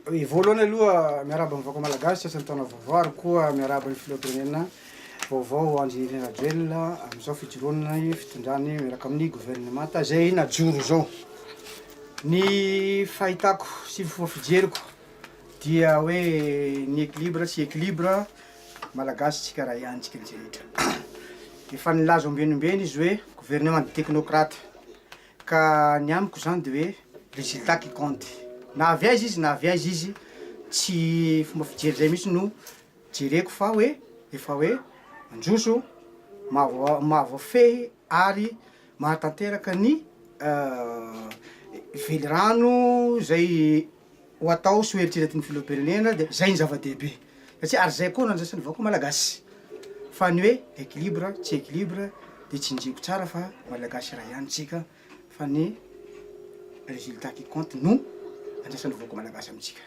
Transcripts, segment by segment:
Voalohany aloha miarahaba ny vahoaka malagasy sasany taona vaovao ary koa miarahaba ny filoham-pirenena vaovao Andry Nirina Rajoelina amin'izao fijoroana ny fitondrany miaraka amin'ny governemanta izay najoro izao. Ny fahitako sy ny fomba fijeriko dia hoe ny équilibre sy équilibre malagasy tsika raha ihany tsika ny rehetra. Efa nilaza ombenombeny izy hoe gouvernement de technocrate. Ka ny amiko izany dia hoe résultat qui compte. Na avy aiza izy na avy aiza izy, tsy fomba fijery izay mihitsy no jereko fa hoe efa hoe mandroso, mahavoafehy ary mahatanteraka ny velirano izay. ho atao sy ho eritreretin' ny Filoham-pirenena dia izay no zava-dehibe satria ary izay koa no andrasan'ny vahoaka Malagasy fa ny hoe equilibre tsy equilibre dia tsinjihiko tsara fa Malagasy iray ihany isika fa ny résultat qui compte no andrasan'ny vahoaka Malagasy amintsika.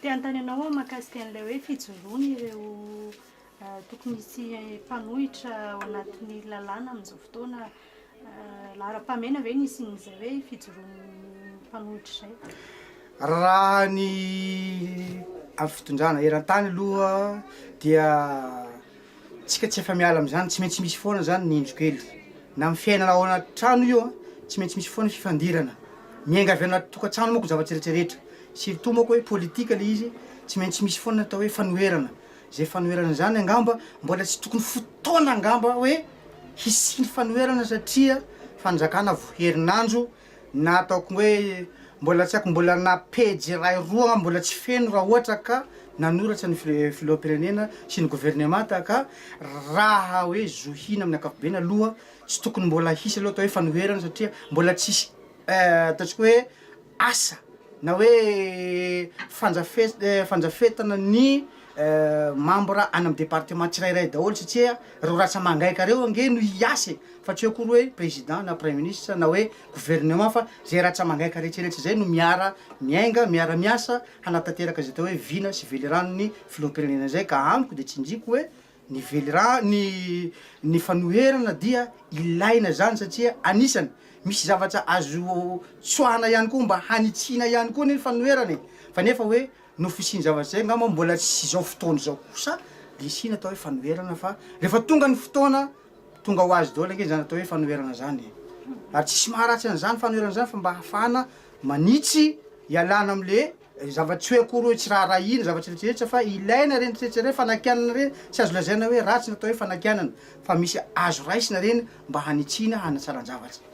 Te hanontany anao aho mahakasika an'ilay hoe fijoroan'ireo. Tokony hisy mpanohitra ao anatin'ny lalàna amin'izao fotoana laharam-pahamehana ve ny hisian'izay hoe fijoroan'ny mpanohitra izay? Raha ny amin'ny fitondrana eran-tany aloha dia tsika tsy afa-miala amin'izany, tsy maintsy misy foana izany ny indro-kely. Na amin'ny fiainana ao anaty trano io, tsy maintsy misy foana ny fifandirana. Miainga avy anaty tokantrano manko ny zavatra rehetra rehetra. Surtout manko hoe politika ilay izy, tsy maintsy misy foana ny atao hoe fanoherana. Izay fanoherana izany angamba mbola tsy tokony fotoana angamba hoe hisiany fanoherana satria fanjakana vao herinandro na ataoko hoe mbola tsy haiko mbola na pejy iray roa angamba mbola tsy feno raha ohatra ka nanoratra ny filoham-pirenena sy ny governemanta ka raha hoe zohiana amin'ny ankapobeny aloha tsy tokony mbola hisy aloha atao hoe fanoherana satria mbola tsisy ataontsika hoe asa na hoe fandrafetana ny mambra any amin'ny departement tsirairay daholo satria ireo ratsamangaika ireo ange no hiasa e! fa tsy eo akory hoe président na praiministra na hoe gouvernement fa izay ratsamangaika rehetrarehetra izay no miara miainga, miara miasa hanatanteraka izay atao hoe vina sy veliranon'ny filoham-pirenena izay ka amiko dia tsinjiko hoe Ny velirano, ny ny fanoherana dia ilaina izany satria anisany misy zavatra azo tsoahana ihany koa mba hanitsiana ihany koa ny fanoherana e! Fa nefa hoe noho fisian'ny zavatra izay angamba mbola tsy izao fotoana izao kosa dia asiana atao hoe fanoherana fa rehefa tonga ny fotoana tonga ho azy daholo ange izany atao hoe fanoherana izany e! Ary tsisy maharatsy an'izany fanoherana izany fa mba ahafahana manitsy ialana amin'le Zava-tsy hoe akory hoe tsy raharahiana, zava-tsy rehetrarehetra fa ilaina ireny rehetrarehetra ireny, fanakianana ireny, tsy azo lazaina hoe ratsy ny atao hoe fanakianana fa misy azo raisina ireny mba hanitsiana hanatsaran-javatra.